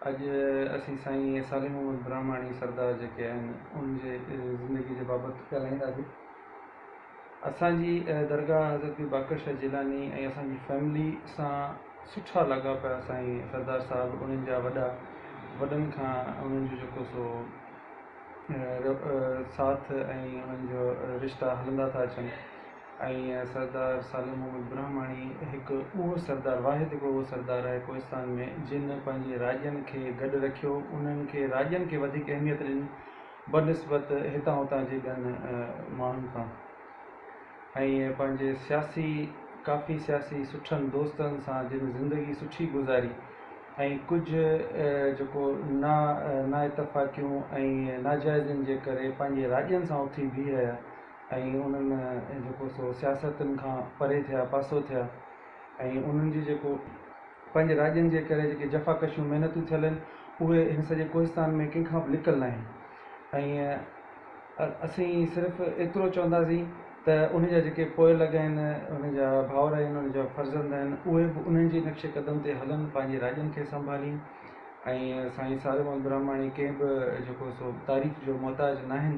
اڄ اسين سائين صالح محمد براهماڻي سردار جيڪي آهن ان جي زندگي جي بابت ڳالهائينداسين. اسان جي درگاهه حضرت پير باقر شاهه جيلاني ۽ اسان جي فيملي سان سٺا لاڳاپا سائين سردار صاحب انهن جا وڏا وڏن کان انهن جو جيڪو سو ساٿ ۽ انهن جا رشتا هلندا ٿا اچن ۽ سردار سالم محمد برهماڻي هڪ اهو سردار واحد هڪ اهو سردار آهي ڪوهستان ۾ جن پنهنجي راڄن کي گڏ رکيو انهن کي راڄن کي وڌيڪ اهميت ڏني بنسبت هتان هتان جي ٻين ماڻهن کان ۽ پنهنجي سياسي ڪافي سياسي سٺن دوستن سان جن زندگي سٺي گذاري ۽ ڪجهه جيڪو نا نا اتفاقيون ۽ ناجائزين جي ڪري پنهنجي راڄن سان اٿي بيهي رهيا ۽ انهن جيڪو سو سياستن کان پري ٿيا، پاسو ٿيا ۽ انهن جي جيڪو پنهنجي راڄن جي ڪري جيڪي جفاڪشيون محنتون ٿيل آهن اهي هن سڄي ڪوهستان ۾ ڪنهن کان به لڪل ناهن ۽ اسين صرف ايترو چونداسين ته انهن جا جيڪي پوئلڳ آهن، انهن جا ڀائر آهن، انهن جا فرزند آهن اهي به انهن جي نقش قدم تي هلن، پنهنجي راڄن کي سنڀالين ۽ سائين ساري محمد براهماڻي ڪنهن به جيڪو سو تعريف جو محتاج ناهن.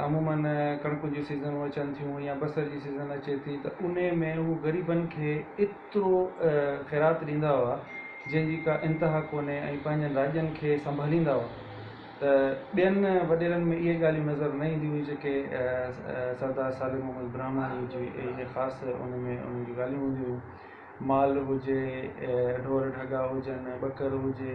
عموماً ڪڻڪ جون سيزنون اچن ٿيون يا بصر جي سيزن اچي ٿي ته ان ۾ هو غريبن کي ايترو خيرات ڏيندا هئا جنهن جي ڪا انتها ڪونهي ۽ پنهنجن راڄن کي سنڀاليندا هئا ته ٻين وڏيرن ۾ اهي ڳالهيون نظر نه اينديون هيون جيڪي سردار صالح محمد براهماڻي جي اهي خاص ان ۾ انهن جون ڳالهيون هونديون هيون مال هجي ڍور ڍڳا هجن ٻڪر هجي